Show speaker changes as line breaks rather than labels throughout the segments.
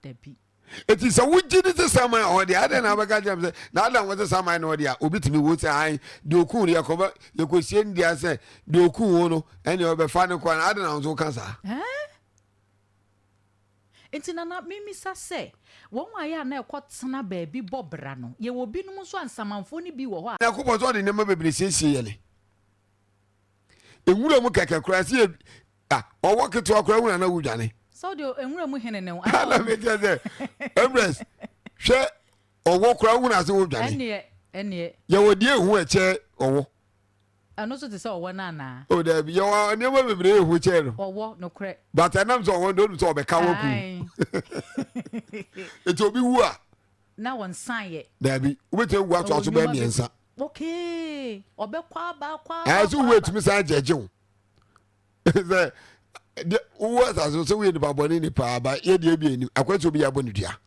Dabi. Enti sɛ
wogye di sɛ saman a ɔde, adɛn na wobɛka kyerɛ me sɛ n'adan wɔte saman na ɔde a, obi tumi wo sɛ ae, deɛ ɔkuu no yɛkɔbɛ, yɛkɔsie no dua sɛ deɛ ɔkuu wo no, ɛneɛ ɔbɛfa no kɔ anaa? Adɛn na wo nso woka saa? Ɛɛ?
Enti na na memisa sɛ, wɔn a yɛ a na ɛkɔtena baabi bɔ bra no, yɛwɔ binom nso a nsamanfoɔ no bi wɔ hɔ a. Nyankopɔn sɛ ɔde nneɛma
bebree siesie yɛne. nwura mu kɛkɛ koraa sɛ yɛ ah, ɔwɔ ketewa koraa wura na wodwane sɛ wode nwura mu
hene ne wo ana mekyɛ sɛ
ɛbrɛs hwɛ ɔwɔ koraa wohunu ase wodwane ɛneɛ ɛneɛ yɛwɔ
deɛ ɛhu ɛkyɛ
ɔwɔ ɛno nso
te sɛ ɔwɔ no anaa o daabi yɛwɔ nneɛma
bebree ɛhu kyɛ no ɔwɔ nokorɛ
but ɛnam sɛ ɔwɔ no
ɔnim sɛ ɔbɛka wɔ ku nti obi wu a na wɔnsan
yɛ daabi wobɛtumi awu
atoa so bɛɛ mmiɛnsa
Okay, ɔbɛkɔ aba akɔ aba. Ɛyɛ sɛ wowɔ etumi san
gyɛgye wo. Sɛ de wowɔ asase sɛ woyɛ nipa bɔne ni paa ba yɛ deɛ bi anim akɔ sɛ obi abɔ ne dua.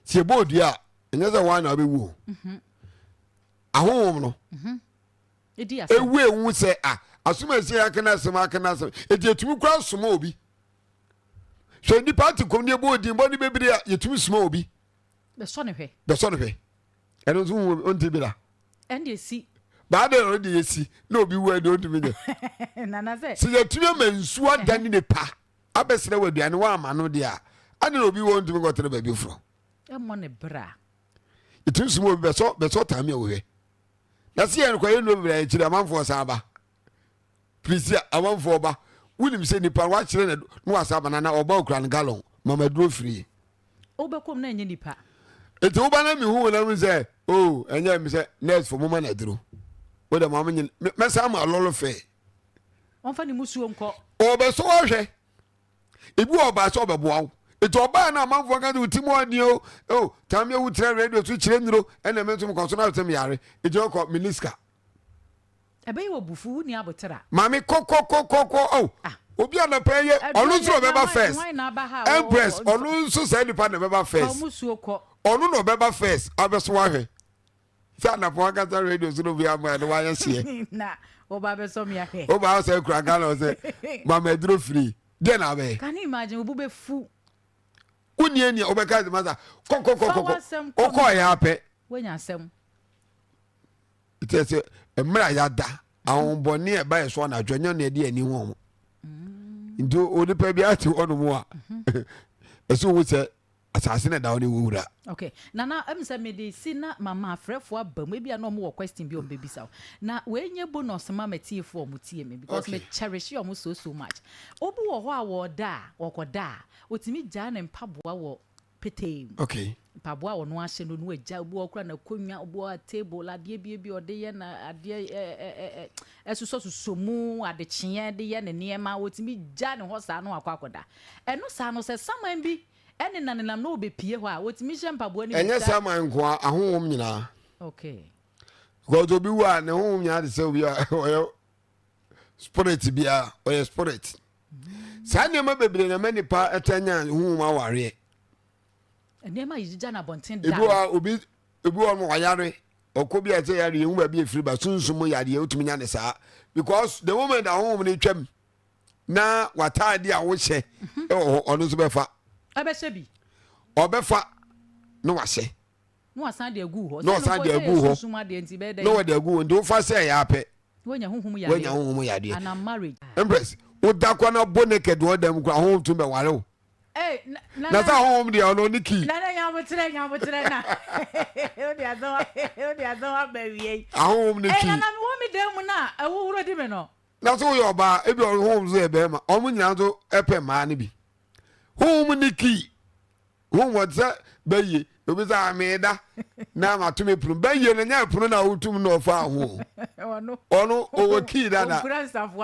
Sɛ ɛbɔ odua a ɛnyɛ sɛ wɔn na wobɛwu o. Mhm. Ahohom no. Mhm. Edi asɛm.
Ewu ewu sɛ
a asom asie akena asɛm akena asɛm eti etumi kura soma obi. Hwɛ nipa ati kɔm ne ɛbɔ odin bɔ ne bebree a yɛtumi soma obi.
bɛsɔ no hwɛ
bɛsɔ no hwɛ ɛno nso wo ɔnti bi da
ɛnde ɛsi baada ɔde
yɛsi na obi wu ɛde ɔntumi nyɛ
sɛ yɛtumi ama nsuo
ada ne nipa abɛsrɛ wɔ aduane woama no deɛ a ade na obi wɔ ntumi nkɔtena baabi foforɔ ɛmmɔ ne bra
ɛtumi
sum obi bɛsɔ bɛsɔ tame a wɔhwɛ na sɛ yɛnkɔyɛ no bra akyiri amanfoɔ san ba prisia amanfoɔ ba wonim sɛ nipa no wakyerɛ na na wasa abana na ɔba okura no galɔn mama duro firie wobɛkɔ mu na
ɛnyɛ nipa nti woba na
mehu wo na mu sɛ o oh, ɛnyɛ me sɛ nurse fo moma na duro wo dɛ maame nyene mɛsa ma lɔlɔ fɛ ɔmfa
ne musuo nkɔ ɔbɛsɔ ɔhwɛ
ebi wɔ ɔbaa sɛ ɔbɛboa wo nti ɔbaa no amanfoɔ ka sɛ wo ti mu ɔdeɛ o o tam yɛ wo tira radio so kyerɛ nuro ɛna me nso mekɔ so no asɛm yare nti ɔkɔ mene sika
Ɛbɛyɛ wɔ bufuw, wonni aboter a. Maame kɔkɔkɔkɔkɔ
oh obi anapa yi ɔno nso na ɔbɛba first Empress ɔno nso saa nipa na ɛbɛba first ɔno na ɔbɛba first abɛso wahwɛ sɛ anapa wankasa radio nso no bi ama ɛde wayɛ seɛ na ɔba
abɛsɔ mi ahwɛ ɔba asɛ kura
Ghana ɔsɛ mama aduro firi deɛ na abɛyɛ can you imagine obu bɛ
fu wonni
ani a ɔbɛka ɛdema sa kɔkɔkɔkɔkɔ ɔkɔɔ yɛ apɛ wanya asɛm kyerɛ sɛ mmerɛ a yɛada ahombɔne a ɛbayɛ so anadwo ɛnyɛ na ɛde ani ho mm. nti onipa bi ate hɔnom a mhm. ɛsɛ hu sɛ asase na da hɔ ne wo wura okay nana
ɛmu sɛ mede si na mama afrɛfoɔ aba mu ebi a na wɔn wɔ question bi wɔn bɛbisa o na wei nye bonus ma matiefoɔ wɔn tie mi because okay. me cherish wɔn so so much obi wɔ hɔ a wɔda a wɔkɔda a otumi gyaa ne mpaboa wɔ petee mu. Ok. Mpaboa
a ɔno ahyɛ
no, ɔno agya, obi wɔ hɔ koraa n'akonnwa, obi wɔ hɔ a table, adeɛ bi bi a ɔde yɛ na adeɛ ɛ ɛ ɛ ɛ ɛsosɔsosɔ mu, adekyeɛ de yɛ ne nneɛma, ɔtumi gya ne hɔ saa na wakɔ akɔda. Ɛno saa no, sɛ saman bi nenanenam na ɔbɛpie hɔ a, ɔtumi hyɛ mpaboa no mu. Ɛnyɛ saman nko ara,
ahonhom nyinaa. Ok.
Because
obi wu a, ne honhom nyinaa te sɛ obi a ɔyɛ spirit biara ɔyɛ spirit saa nneɛma bebree na ɛma nipa ɛtɛ nya huhum awareɛ
nneɛma yi gyigya na abɔnten da ebi wa obi
ebi wa no wayare ɔkɔ bi a ɛsɛ yare ehu baabi efiri ba sunsun mu yare otumi nya ne saa because the moment a huhum no twam na wataade a wohyɛ mhm. ɛwɔ hɔ ɔno nso bɛfa ɛbɛhyɛ bi
ɔbɛfa
na wahyɛ.
na wasan de agu hɔ. na ɔsan
de agu hɔ na wɔde agu hɔ nti wofa sɛ ɛyɛ apɛ woanya
honhom yadeɛ
ah.
empress woda
kɔ na bo ne kɛde ɔda mu kora honhom tumi bɛware wo eh,
na sɛ honhom
deɛ ɔno ne kii
ahonhom ne kii na sɛ woyɛ ɔbaa
ebi ɔhonhom so yɛ bɛrima ɔmo nyinaa nso ɛpɛ mmaa no bi honhom ne kii Hu wɔn sɛ bɛyie. Obi sɛ a meeda na mato me pono. Bɛyie no nyɛ pono na wotum na ɔfaa ho. Ɔno ɔwɔ kii dada.